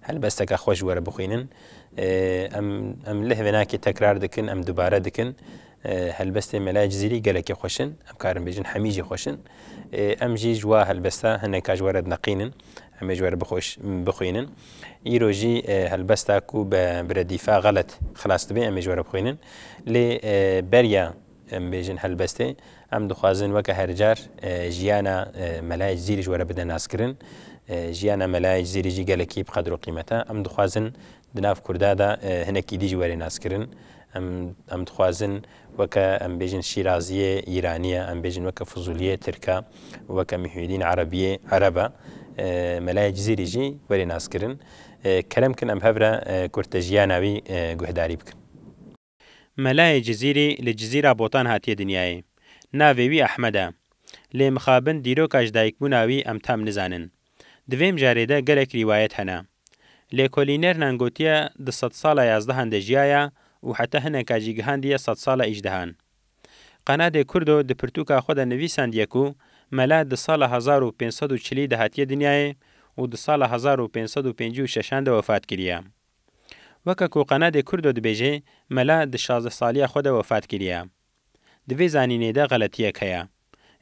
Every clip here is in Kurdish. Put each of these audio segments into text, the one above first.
Helbesteke xweş were bixwînin. Em em leh vênakê tekrar dikin, em dubare dikin. Helbestên Melaya Cizîrî gelekî xweş in. Em karin bêjin hemî jî xweş in. Em jî ji wa helbesta hineka ji were dineqînin. Em ê ji were bixweş bixwînin. Îro jî helbesta ku bi redîfa xelet xilas dibe em ê ji were bixwînin. Lê beriya. Em bêjin helbestê em dixwazin weke her car jiyana melayê Cizîrê ji we re bide naskirin. Jiyana melayê Cizîrê jî gelekî bi qedr û qîmet e. Em dixwazin di nav Kurda de hinekî dî ji we rê naskirin. Em em dixwazin weke em bêjin Şîraziyê Îranî ye, em bêjin weke Fuzuliyê Tirk e û weke Mihîedîn Erebiyê Ereb e. Melayê Cizîrê jî werê naskirin. Kerem kin em hev re kurte jiyana wî guhdarî bikin. Melayê Cizîrî li Cizîra Botan hatiye dinyayê. Navê wî Ehmed e. Lê mixabin dîroka ji dayikbûna wî em tam nizanin. Di vê mijarê de gelek rîwayet hene. Lêkolînernan gotiye di sedsala yazdehan de jiyaye û heta hineka jî gihandiye sedsala îjdehan. Qenadê Kurdo di pirtûka xwe de nivîsandiye ku mela di sala hezar û pênc sed û çilî de hatiye dinyayê û di sala hezar û pênc sed û pêncî û şeşan de wefat kiriye. Weke ku Qenedê Kurdo dibêje, mela di şazdeh saliya xwe de wefat kiriye. Di vê zanînê de xeletiyek heye.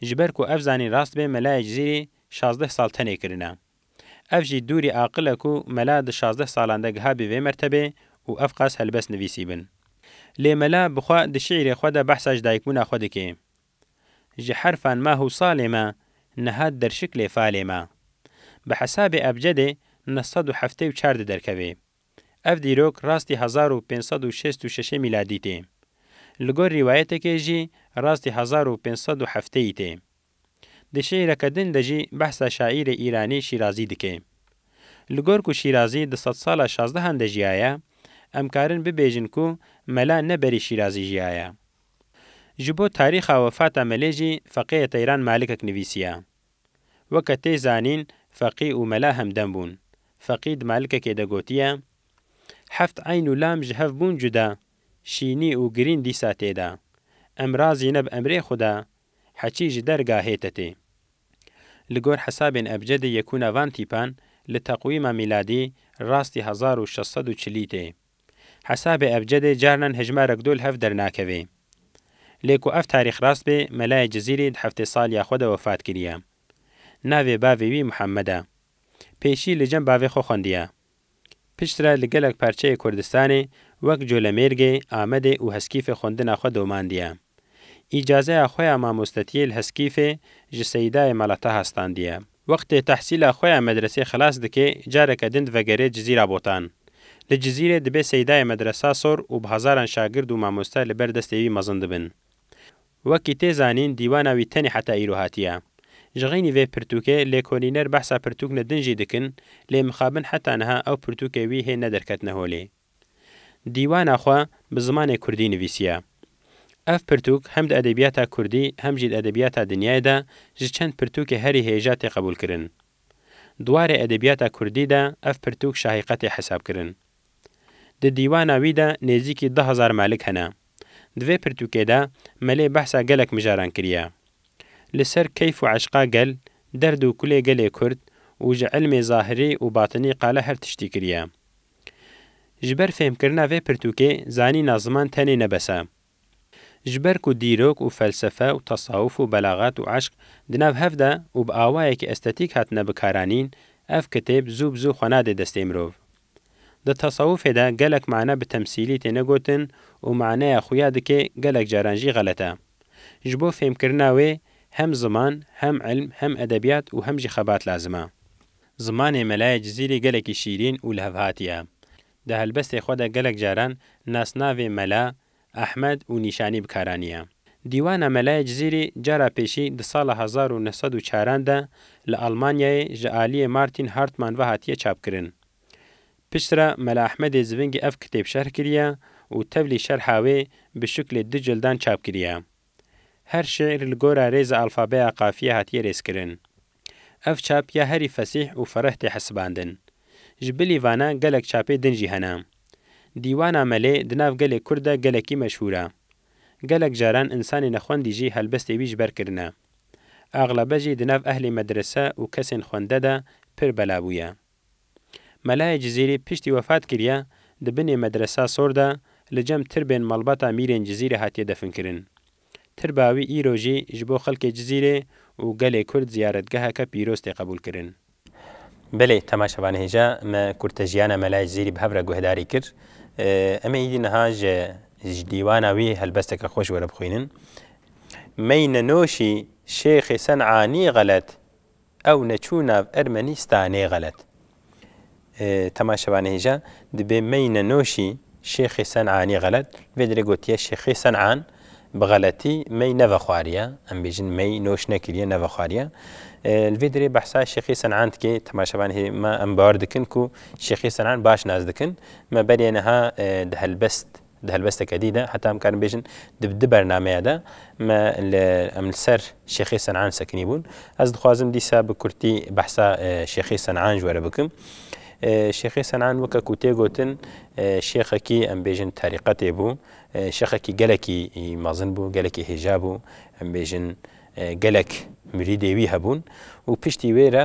Ji ber ku ev zanîn rast be melayê Cizîrê şazdeh sal tenê kirine. Ev jî dûrî aqil e ku mela di şazdeh salan de giha bê vê mertebê û ev qas helbest nivîsîbin. Lê mela bi xwe di şîîrê xwe de behsa ji dayikbûna xwe dike. Ji herfan mah û salê me, niha derşik lê falê me. Bi hesabê ebcedê neh sed û heftê û çar diderkeve. Ev dîrok rastî hezar û pênc sed û şêst û şeşê mîladî tê. Li gor rîwayetekê jî rastî hezar û pênc sed û hefteyî tê. Di şîîreke din de jî behsa şaîrê Îranî Şîrazî dike. Li gor ku Şîrazî di sedsala şazdehan de jiyaye, em karin bibêjin ku mela ne berî Şîrazî jiyaye. Ji bo tarîxa wefata melê jî feqêyê teyran malikek nivîsiya. Weke tê zanîn feqî û mela hemdem bûn. Feqî di malikekê de gotiye, Heft eyn û lam ji hev bûn cuda, şînî û girîn dîsa tê da. Em razîne bi emrê Xuda, heçî ji derga hête tê. Li gor hesabên ebcedê yekûna van tîpan li teqwîma mîladî rastî hezar û şeş sed û çilî tê. Hesabê ebcedê carinan hejmarek do li hev dernakeve. Lê ku ev tarîx rast be, Melayê Cizîrî di heftê saliya xwe de wefat kiriye. Navê bavê wî Muhammed e. Pêşî li cem bavê xwe xwendiye. Piştre li gelek parçeyê Kurdistanê wek Colemêrgê, Amedê û Heskîfê xwendina xwe domandiye. Îcazeya xwe ya mamostetiyê li Heskîfê ji Seyîdayê Mala Taha standiye. Wextê tehsîla xwe ya medresê xilas dike careke din divegerê Cizîra Botan. Li Cizîrê dibe seydayê medresa sor û bi hezaran şagird û mamoste li ber destê wî mezin dibin. Wekî tê zanîn dîwana wî tenê heta îro hatiye. Ji xeynî vê pirtûkê lêkolîner behsa pirtûkne din jî dikin lê mixabin heta niha ew pirtûkê wî hê nederketine holê. Dîwana xwe bi zimanê kurdî nivîsiye. Ev pirtûk hem di edebiyata kurdî hem jî di edebiyata dinyayê de ji çend pirtûkê herî hêja tê qebûlkirin. Di warê edebiyata kurdî de ev pirtûk şahîqe tê hesabkirin. Di dîwana wî de nêzîkî du hezar melik hene. Di vê pirtûkê de Melê behsa gelek mijaran kiriye. Li ser keyf û eşqa gel, derd û kulê gelê kurd û ji ilmê zahirî û batinî qala her tiştî kiriye. Ji ber fêhmkirina vê pirtûkê zanîna ziman tenê ne bes e. Ji ber ku dîrok û felsefe û tesawuf û belaxet û eşq di nav hev de û bi awayekî estetîk hatine bikaranîn, ev kitêb zû bi zû xwe nadê destê mirov. Di tesawufê de gelek mane bi temsîlî têne gotin û maneya xuya dikê gelek caran jî xelet e. Ji bo fêhmkirina wê hem ziman, hem ilm, hem edebiyat û hem jî xebat lazim e. Zimanê Melaya Cizîrî gelekî şîrîn û lihevhatî ye. Di helbestê xwe de gelek caran nasnavê Mela, Ehmed û Nîşanî bi kar aniye. Dîwana Melaya Cizîrî cara pêşî di sala hezar û neh sed û çaran de li Almanyayê ji aliyê Martin Hartmann ve hatiye çapkirin. Pişt re Mela Ehmedê Zivingî ev kitêb şerh kiriye û tevlî şerha wê bi şiklê du cildan çap kiriye. Her şîîr li gora rêza alfabeya qafiyê hatiye rêzkirin. Ev çap ya herî fesîh û fereh tê hesibandin. Ji bilî vana gelek çapê din jî hene. Dîwana Melê di nav gelê Kurd de gelekî meşhûr e. Gelek caran însanê nexwendî jî helbestê wî ji ber kirine. Axlebe jî di nav ehlê medrese û kesên xwende de pir bela bûye. Melayê Cizîrî piştî wefat kiriye di binê Medresa Sor de li cem tirbên malbata Mîrên Cizîrê hatiye definkirin. Tirba wî îro jî ji bo xelkê Cizîrê û gelê Kurd ziyaretgeheke pîroz tê qebûlkirin. Belê Tema Şevanehêja me kurtejiyana Mela Cizîrî bi hev re guhdarî kir. Em ê îdî niha ji ji dîwana wî helbesteke xweş were bixwînin. Meyne Noşî Şêxê Sen'anî xelet Ew neçû nav Ermenîstanê xelet. Tema şevanehêja dibê meyne noşî Şêxê Sen'anî xelet. Li vê derê gotiye Şêxê Sen'an bi xeletî mey nevexwariye. Em bêjin mey noş nekiriye nevexwariye. Li vê derê behsa Şêxê Sen'an dike. Tema şevanehê me em bawer dikin ku Şêxê Sen'an baş nas dikin. Me beriye niha di helbest Di helwesteke dî de heta em karin bêjin di di bernameya de me li em li ser Şêxê Senan sekinî bûn. Ez dixwazim dîsa bi kurtî behsa Şêxê Senan ji we re bikim. Şêxê Senan weke ku tê gotin şêxekî em bêjin terîqetê bû. Şêxekî gelekî mezin bû, gelekî hêja bû. Em bêjin gelek mirîdê wî hebûn û piştî wê re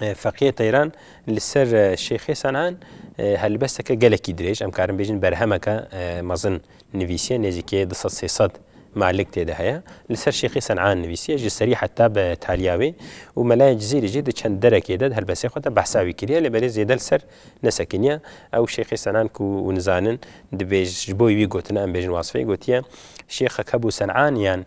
Feqiyê Teyran li ser Şêxê Senan helbesteke gelekî dirêj em karin bêjin berhemeke mezin nivîsiye nêzîkê du sed sê sed melik tê de heye li ser Şêxê Senan nivîsiye ji serî heta bi taliya wê û Melayê Cizîrî jî di çend derekê de di helbestê xwe de behsa wî kiriye lê belê zêde li ser nesekiniye ew Şêxê Senan ku hûn zanin dibêj ji bo wî gotina em bêjin wasfê gotiye Şêxek hebû Senan yan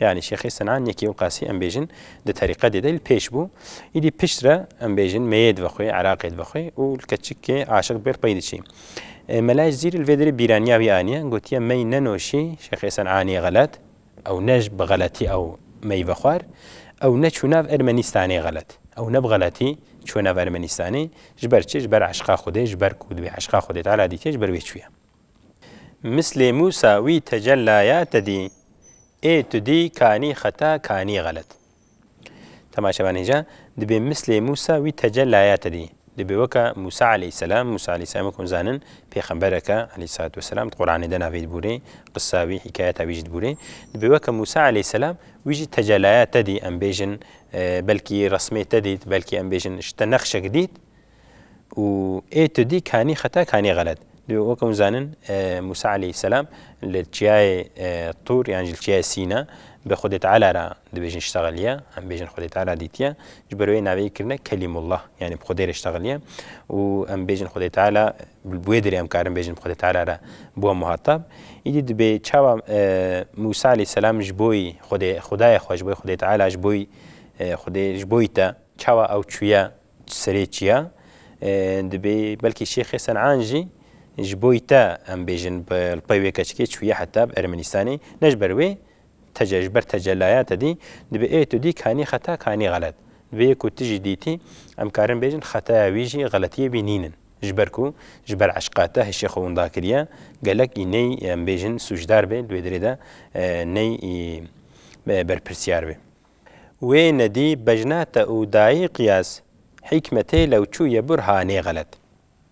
Yanî Şêxê Sinan yekê û qasî em bêjin di terîqetê de li pêş bû. Îdî pişt re em bêjin mêyê divexwê, Iraqê divexwê û li keçikê aşiq dibê li pey diçî. Mela Ejzîrî li vê derê bîraniya wî aniye, gotiye mey nenoşî Şêxê Sinanê xelet, ew ne ji bi xeletî ew mey vexwar, ew ne çû nav Ermenîstanê xelet. Ew ne bi xeletî çûye nav Ermenîstanê. Ji ber çi? Ji ber eşqa Xwedê, ji ber ku divê eşqa Xwedê Teala dîtîye, ji ber wê çûye. Mislê Mûsa wî tecellaya te dî. Ê tu dî kanî xeta kanî xelet. Temaşe ben hêja, dibê mislê Mûsa wî tecellaya te dî. Dibê weke Mûsa aleyhîsselam, Mûsa aleyhîsselam wek hûn zanin pêxemberek e aleyhîsselatu wesselam, di Quranê de navê dibûrê, qisa wî, hîkayeta wî jî dibûrê. Dibê weke Mûsa aleyhîsselam wî jî tecellaya te dî, em bêjin belkî resmê te dît, belkî em bêjin ji te nexşek dît, û ê tu dî kanî xeta kanî xelet. Divê wek hûn zanin Mûsa aleyhîsselam li çiyayê Tûr yan jî li çiyayê Sîna bi Xwedê Teala re dibêjin ştexiliye, em bêjin Xwedê Teala dîtiye. Ji ber wê navê kirine Kelîmullah yanî bi Xwedê re ştexiliye û em bêjin Xwedê Teala bi wê dirê em karin bêjin bi Xwedê Teala re bûye muhatap. Îdî dibê çawa Mûsa aleyhîsselam ji bo Xwedê Xwedayê xwe ji bo Xwedê Teala ji bo Xwedê ji bo te çawa ew çûye Serê çiya dibê belkî Şêxê Senan jî ji boî te em bêjin bi lpey wê keçikê çûye heta bi Ermenistanê ne ji ber wê tece ji ber tecelaya te dî dibê ê tu dî kanî xeta kanî xelet dibê yê ku tu jî dîtî em karin bêjin xetaya wî jî xeletiyê wî nînin ji ber ku ji ber eşqa te hişê xwe winda kiriye gelek ê ney em bêjin sûcdar bê di wê derê de ney ê berpirsyar bê. Wê nedî bejnate û dayê qiyas hîkmetê lewçû ye burha nê xelet.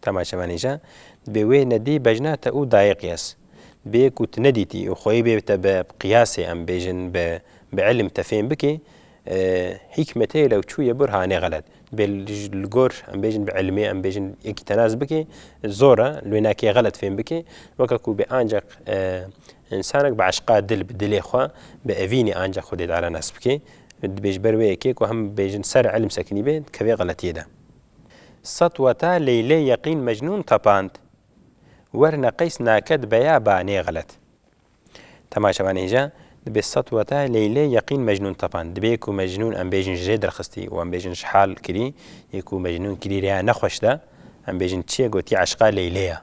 Tama çemanîja dibê wê nedî bejnate û dayê qiyas. Dibê ku tu nedîtî û xweyî bê te bi qiyasê em bêjin bi bi îlim te fêm bikî hîkmetê lewçû ye burha nê xelet. Dibê li gor em bêjin bi îlimê em bêjin yekî tenas bikî zor e li wê nakê xelet fêm bikî weke ku bê ancaq Însanek bi eşqa dil bi dilê xwe, bi evînê anca xwedê diere nas bike. Dibê ji ber wê yekê ku em bibêjin ser ilm sekinî bê, dikevê xeletiyê de. Sed weta Leylê yeqîn Mecnûn tepand. Werne qeys naket beya ba nê xelet. Tema şevan hêja, dibê sed weta Leylê yeqîn Mecnûn tepand. Dibê ku Mecnûn em bêjin ji rê derxistî û em bêjin ji hal kirî. Yê ku Mecnûn kirî rêya ne xweş de, em bêjin çiyê gotî eşqa Leylê ya.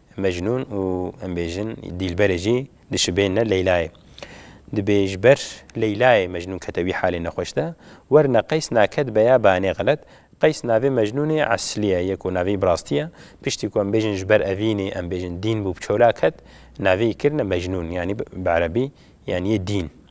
Mecnûn û em bêjin Dîlberê jî dişibêne Leylayê. Dibê ji ber Leylayê Mecnûn kete wî halê nexweş de. Werna Qeys naket beyabanê xelet. Qeys navê Mecnûnê Eslî ye, yê ku navê îbrastî ye. Piştî ku em bêjin ji ber evînê em bêjin dîn bû bi çola ket, navê î kirine Mecnûn yanî bi erebî yanî yê dîn.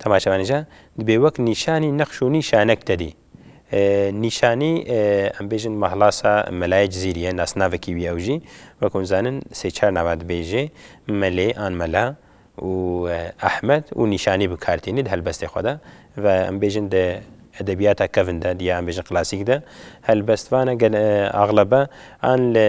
Temaşevanê jî dibê wek nîşanî nexş û nîşanek tedî. Nîşanî em bêjin mahlasa Melayê Cizîrî ye, nasnavekî wî ye ew jî wek hûn zanin sê çar nava dibê jê Melê an Mela û Ehmed û nîşanî bi kar tînî di helbestê xwe de ve em bêjin di edebiyata kevn de di ya em bêjin klasîk de helbestvan e gel axlebe an li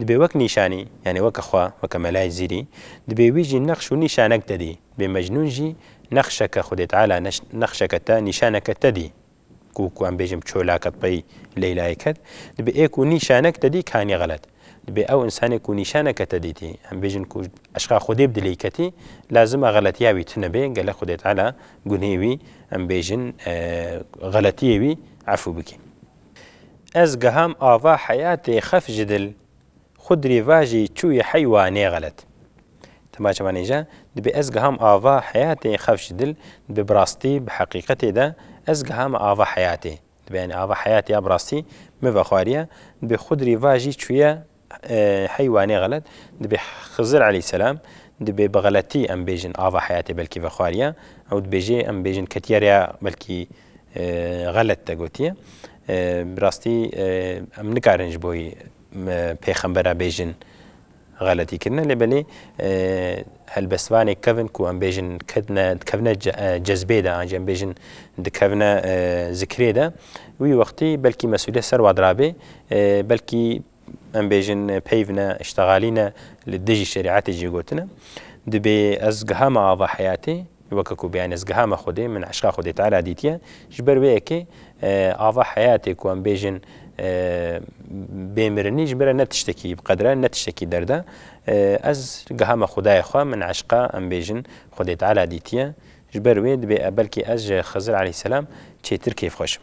Dibê wek nîşanî, yanî weke xwe, weke melayê zîrî, dibê wî jî nexş û nîşanek te dî. Dibê Mecnûn jî nexşeke Xwedê Teala nexşeke te, nîşaneke te dî. Ku ku em bêjim çolake tey Leylayê ket, dibê ê ku nîşanek te dî kanî xelet. Dibê ew însanê ku nîşaneke te dîtî, em bêjin ku eşqa Xwedê bi dilê ketî, lazim e xeletiya wî tune bê, gelek Xwedê Teala gunhê wî, em bêjin xeletiyê wî efû bikî. Ez giham ava heyatê xef ji dil, xwe di rêvajê çûyê hey wa nêxelet. Dema çemenêje, dibê ez giham ava heyatê xef ji dil, dibê bi rastî, bi heqîqetê de ez gihame ava heyatê. Dibê yanî ava heyatê ya bi rastî min vexwariye, dibê xwe di rêvajî çûye heywanê xelet dibê Xizir eleyselam dibê bi xeletî em bêjin ava heyatê belkî vexwariya ew dibêjê em bêjin ketiye rêya belkî xelet te gotiye. Bi rastî em nikarin ji bo wî pêxembera bêjin xeletî kirine lê belê helbestvanê kevin ku em bêjin ketine dikevine cezbê de an jî em bêjin dikevine zikrê de wî wextî belkî mesuliyet ser wa dirabê belkî em bêjin peyv ne, îştegalî ne li dijî şerîetê jî gotin e. Dibê ez giha me ava heyatê, weke ku bêyanî ez giha me Xwedê, min eşqa Xwedê Teala dîtiye, ji ber wê yekê ava heyatê ku em bêjin bê mirinî ji ber e ne tiştekî bi qedir e, ne tiştekî derd e. Ez giha me Xwedayê xwe, min eşqa em bêjin Xwedê Teala dîtiye. Ji ber wê dibê belkî ez ji Xizir Eleyhîsselam çêtir kêfxweş im.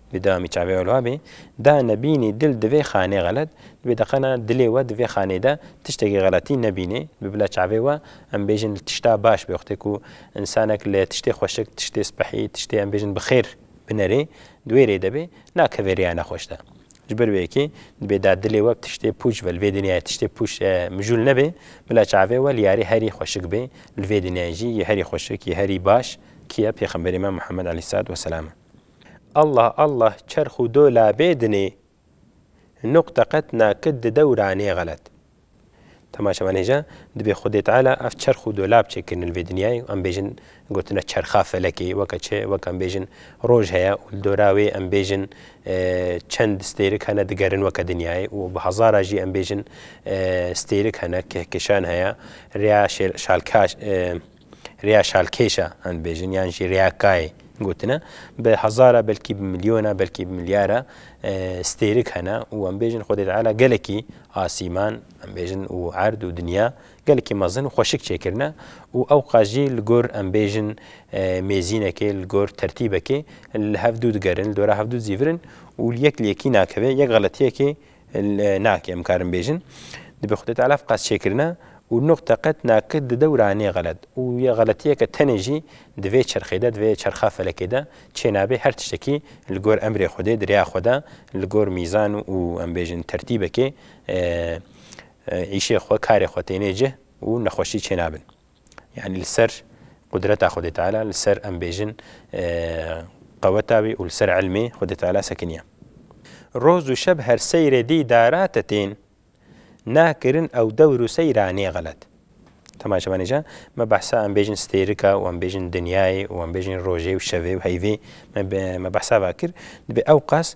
Bi dewamî çavê wê wiha bê, Da nebînî dil di vê xanê xelet, di vê deqena dilê we di vê xanê de tiştekî xeletî nebînê. Bi bila çavê we em bêjin li tişta baş bi wextê ku însanek li tiştê xweşik, tiştê spehî, tiştê em bêjin bi xêr binerê di wê rê de bê, nakeve rêya nexweş de. Ji ber wê yekê dibê da dilê we bi tiştê pûç ve li vê dinyayê tiştê pûç mijûl nebê, bila çavê we li yarê herî xweşik bê, li vê dinyayê jî yê herî xweşik, yê herî baş kî ye? Pêxemberê me Muhammed aleyhîssalat weselam e. Allah Allah çerx û dola bê dinê nuqte qet nakit di dewra nê xelet. Temaşe man hêja dibê Xwedê Teala ev çerx û dola biçe kirine li vê dinyayê û em bêjin gotina çerxa felekê weke çi weke em bêjin roj heye û li dora wê em bêjin çend stêrik hene digerin weke dinyayê û bi hezara jî em bêjin stêrik hene kehkişan heye rêya şalka Rêya şalkêş e em dibêjin yan jî rêya kayê gotine bi hezar e belkî bi milyon e belkî bi milyar e stêrik hene û em bêjin Xwedê Teala gelekî asîman em bêjin û erd û dinya gelekî mezin û xweşik çêkirine û ew qas jî li gor em bêjin mêzînekê li gor tertîbekê li hev dû digerin li dora hev dû dizîvirin û yek li yekî nakeve yek xeletiyekê Nake em karin bêjin dibe Xwedê Teala ev qas çêkirine û nuqte qet nake di dewra nê xelet û yê xeletiyeke tenê jî di vê çerxê de di vê çerxa felekê de çê nabe her tiştekî li gor emrê Xwedê di rêya xwe de li gor mîzan û em bêjin tertîbekê îşê xwe karê xwe tênê cih û nexweşî çê nabin. Yanî li ser qudreta Xwedê Teala, li ser em bêjin qeweta wî û li ser ilmê Xwedê Teala sekiniye. Roz û şeb her seyrê dî darate tên, na kirin ew dewr û seyra nê xelet. Temaya çavanê jî me behsa em bêjin stêrika û em bêjin dinyayê û em bêjin rojê û şevê û heyvê me behsa va kir. Dibê ewqas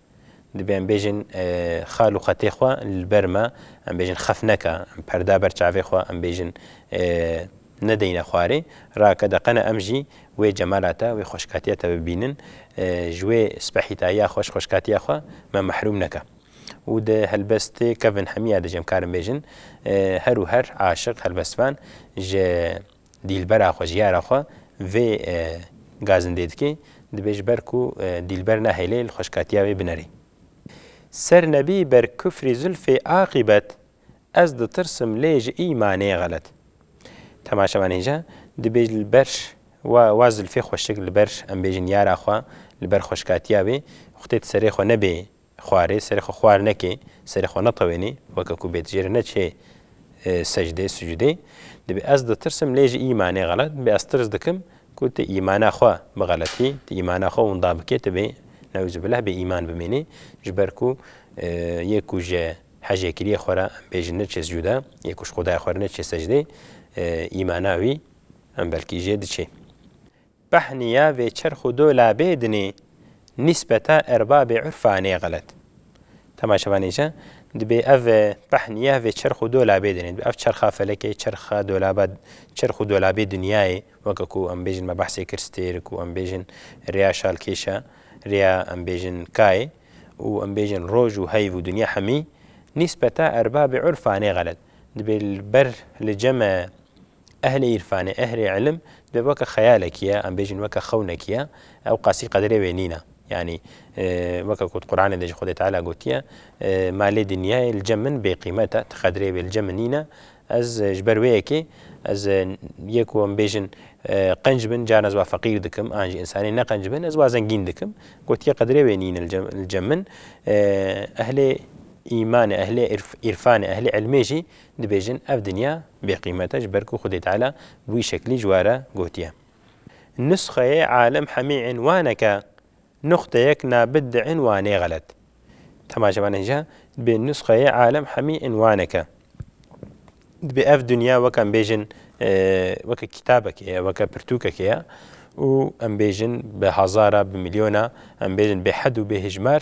Dibe em bêjin xal û xetê xwe li ber me em bêjin xef neke, em perda ber çavê xwe em bêjin nedeyne xwarê. Rake deqene em jî wê cemala te, wê xweşkatiya te bibînin. Ji wê spehîtayiya xweş xweşkatiya xwe me mehrûm neke. Û di helbestê Kevin Hemiya de jî em karin bêjin her û her aşiq helbestvan ji Dîlbera xwe, jiyara xwe vê gazindê dikê, dibê ji ber ku dîlber nehêlê li xweşkatiya wê binerê. Ser nebî ber kufrî Zülfê aqîbet ez ditirsim lê ji îmanê xelet. Temaşevan hêja, dibê li ber wa Zülfê xweşik li ber em bêjin yara xwe, li ber xweşkatiya wê xwtê di serê xwe nebê Xwarê, serê xwe xwar nekê, serê xwe netewênî, weke ku bêdijêre ne çê secdê, sucudê, dibê ez ditirsim lê ji îmanê xelet dibê ez tirs dikim ku tu îmana xwe bixeletî, tu îmana xwe winda bikê, tu bê neuzubilleh bêîman bimînî, ji ber ku yê ku ji hejêkiriyê xwe re em bêjin ne çê sucude, yê ku ji xwedaya xwe re ne çê secdê, îmana wî em belkî jê diçê. Pehniya vê çerx û dolabê dinê nîsbeta erbabê urfa nê xelet. Dema şeva nîje dibê ev pehniya vê çerx û dolabê dinê. Dibê ev çerxa felekê, çerxa dolaba çerx û dolabê dinyayê weke ku em bêjin me behsê kir stêr ku em bêjin rêya şalkêşa, rêya em bêjin kayê û em bêjin roj û heyv û dinya hemî nîsbeta erbabê urfa nê xelet. Dibê li ber li cem e Ehlê îrfanê, ehlê îlim divê weke xeyalekîye, em bêjin weke xewnekîye, ew qasî qedrê wê nîne. Yanî weke ku di Quranê de jî Xwedê Teala gotiye, Ma lê dinyayê li cem min bêqîmet e, ti qedrê wê li cem min nîne. Ez ji ber wê yekê ez yê ku em bêjin qenc bin, caran ez wa feqîr dikim, an jî însanên neqenc bin ez wa zengîn dikim. Gotiye qedrê wê nîne li cem min. Ehlê îmanê, ehlê îrfanê, ehlê îlmê jî Dibêjin ev dinya bêqîmet e ji ber ku Xwedê Teala bi wî şeklî ji we re gotiye. Nusxeyê alim hemî înwanek e, nuqteyek nabit di înwanê xelet. Temaşe bane hîja, dibê nusxeyê alim hemî înwanek e. Dibê ev dinya weke em bêjin weke kîtabekê ye, weke pirtûkekê ye û em bêjin bi hezara, bi milyona, em bêjin bêhed û bêhijmar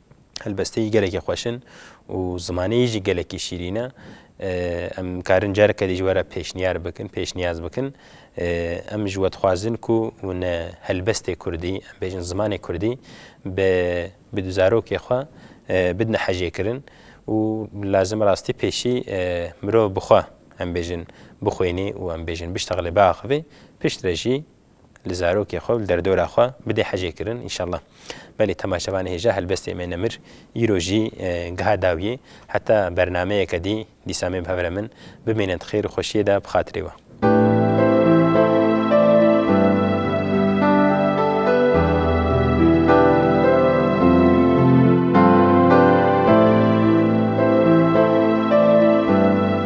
helbesteyî gelekî xweş in û zimaneyî jî gelekî şîrîn e. Em karin careke dî ji we re pêşniyar bikin, pêşniyaz bikin. Em ji we dixwazin ku wine helbestê kurdî, em bêjin zimanê kurdî bi bi du zarokê xwe bidine hejêkirin û lazim rastî pêşî mirov bi xwe em bêjin bixwînî û em bêjin bişteqlê biaxivî, piştre jî li zarokê xwe û li derdora xwe bidê hejê kirin înşallah. Belê temaşevanê hêja helbestê me nemir îro jî giha dawiyê heta bernameyeke dî dîsa me bi hev re min bimînin di xêr û xweşiyê de bi xatirê we.